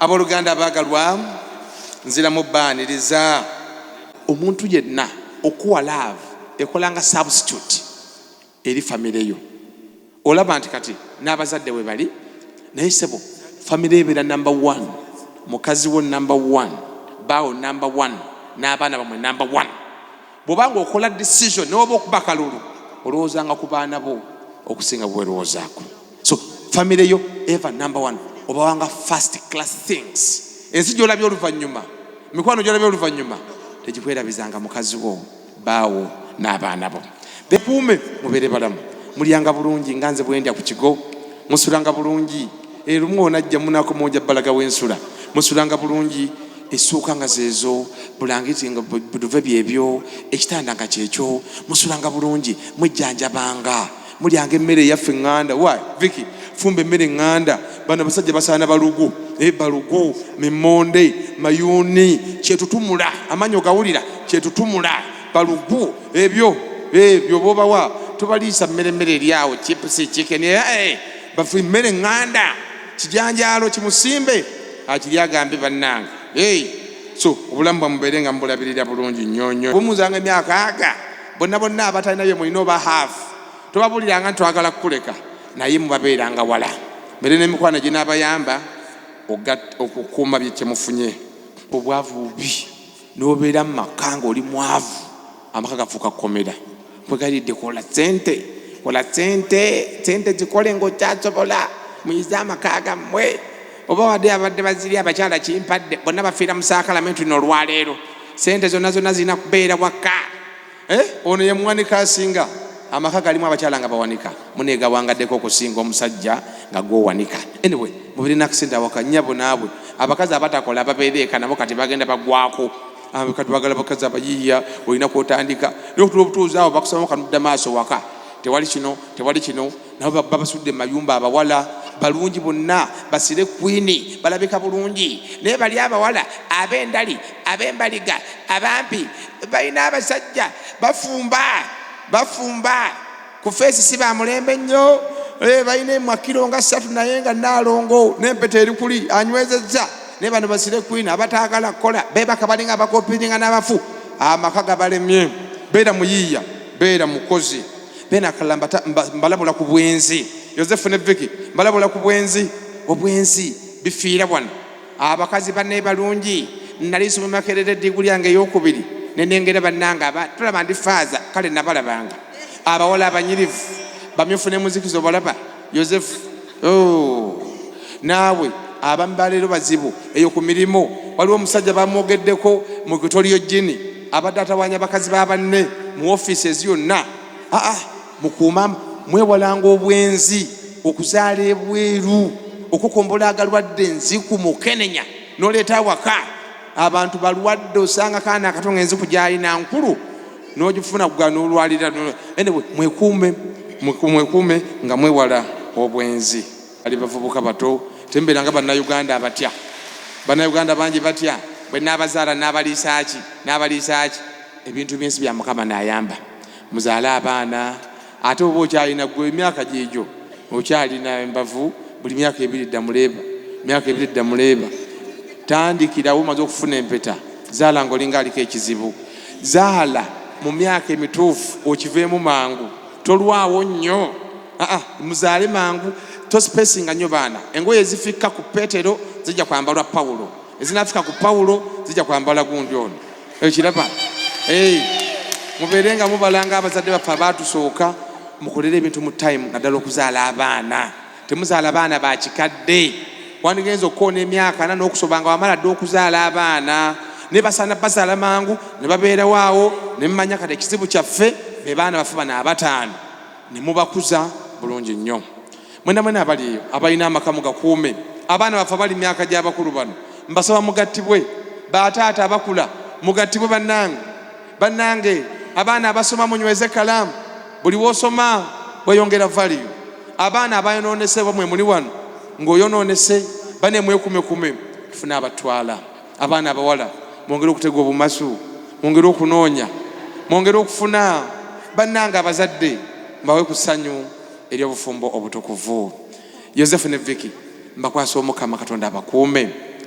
Abooluganda abaagalwa, nziramu baaniriza. Omuntu yenna okuwa laavu ekola nga substitute eri famire yo. Olaba nti kati n'abazadde we bali naye ssebo famire ebeera number one, mukazi wo number one, baawo number one, n'abaana bamwe number one. Bw'oba ng'okola decision ne waba okuba kalulu olowoozanga ku baana bo okusinga bwe weerowoozaako. so family yo ever number one obawanga first class things ensi gyolabye oluvannyuma mikwano gyolabye oluvannyuma tegikwerabizanga mukazi wo baawo n'abaana bo bekuume mubeere balamu mulyanga bulungi nga nze bwendya ku kigo musulanga bulungi erumu eh, onajja munako munja balaga wensula musulanga bulungi essuuka nga zeezo bulangiti nga buduve byebyo ekitanda nga kyekyo musulanga bulungi mwejjanjabanga mulyanga emmere eyaffe eŋŋanda wa viki fumba emmere eŋŋanda bano abasajja basaana balugu e balugu mimonde mayuuni kyetutumula amaanyi ogawulira kyetutumula balugu ebyo ebyo bobawa tobaliisa mmere emmere eryawo chipusi chiken eh, eh, bafu emmere eŋŋanda kijanjaalo kimusimbe akiri agambe bannange so obulamu bwamubeere nga mubulabirira bulungi nnyonyo bumuzanga emyaka aga bonna bonna abatalina bye mulina oba haafu tobabuliranga nti twagala kukuleka naye mubabeeranga wala mbere n'emikwano ginaabayamba okukuuma bye kyemufunye obwavu bubi n'obeera mu maka ng'oli mwavu amaka gafuuka kukomera kwegalidde kola sente kola sente sente zikole ng'okyasobola muyize amaka gammwe oba wadde abadde baziri abakyala kimpadde bonna bafiira mu saakalamentu nolwaleero sente zonna zonna zirina kubeera wakka eh? ono ye muwanika asinga amaka galimu abakyala nga bawanika munegawangaddeko okusinga omusajja nga gwowanika anyway mubirina akisente awaka nyabo naabwe abakazi abatakola babeera eka nabo kati bagenda bagwako ah, kati bagala bakazi abayiiya olina kwotandika naye otuba obutuuzi awo bakusaba kanudda maaso waka tewali kino tewali kino nabo ba- babasudde mu mayumba abawala balungi bonna basire kwini balabika bulungi naye bali abawala ab'endali ab'embaliga abampi balina abasajja bafumba bafumba ku feesi si ba mulembe nnyo Eh, balina emwakiro nga ssatu naye nga naalongo n'empeta eri kuli anywezezza naye bano basire kwini abataagala kukola beebaka balinga abakopiringa n'abafu amaka gabalemye beera muyiiya beera mukozi bena akalala mbalabula ku bwenzi yosefu ne viki mbalabula ku bwenzi obwenzi bifiira wano abakazi bane balungi nali nsoma makerere diguli yange eyokubiri nenengera banange aba tulaba ndi faaza kale nabalabanga abawala abanyirivu bamyufu ne muzikizo balaba yosefu oh, naawe abamu baleero bazibu eyo ku mirimu waliwo omusajja bamwogeddeko mu kutoliyo jini abadde atawanya bakazi ba banne mu offices yonna aa ah, ah, mukuuma mwewalanga obwenzi okuzaala ebweru okukombola agalwadde enziku mukenenya noleeta awaka abantu balwadde osanga kaana akato nga enziku gyalina nkulu nogifuna kuga nolwalira anyway, mwekuume mwekuume nga mwewala obwenzi ali bavubuka bato tembeera nga bannayuganda abatya bannayuganda bangi batya bwe naabazaala naabaliisaaki naabaliisaaki ebintu byensi bya mukama naayamba muzaale abaana Ate oba okyalina gwe emyaka gyegyo okyalina embavu buli myaka ebiri dda muleeba myaka ebiri dda muleeba tandikirawo omaze okufuna empeta zaala nga olinga aliko ekizibu zaala mu myaka emituufu okiveemu mangu tolwawo nnyo aa muzaale mangu tosipesinga nnyo baana engoye ezifikka ku petero zijja kwambalwa pawulo ezinafika ku pawulo zijja kwambala gundi ono okiraba mubeere nga mubalanga abazadde baffe abaatusooka mukolere ebintu mu time naddala okuzaala abaana temuzaala baana ba kikadde wandigenza okukoona emyaka ana n'okusoba nga wamala dde okuzaala abaana ne basaana bazaala mangu ne babeerawo awo ne mumanya kati ekizibu kyaffe be baana bafe bana abataano ne mubakuza bulungi nnyo Mwena mwena abali eyo abalina amaka mugakuume abaana baffe abali myaka gyabakulu bano mbasaba mugattibwe bataata abakula mugattibwe banange banange abaana abasoma munyweze kalaamu buli wosoma weyongera valiyu abaana abayononese oba mwemuli wano ngaoyononese bane mwekumekume tufune abatwala abaana abawala mwongere okutega obumasu mwongere okunoonya mwongere okufuna banange abazadde mbawe ku ssanyu ery'obufumbo obutukuvu. Yozefu ne Vicky mbakwasa Omukama Katonda abakuume.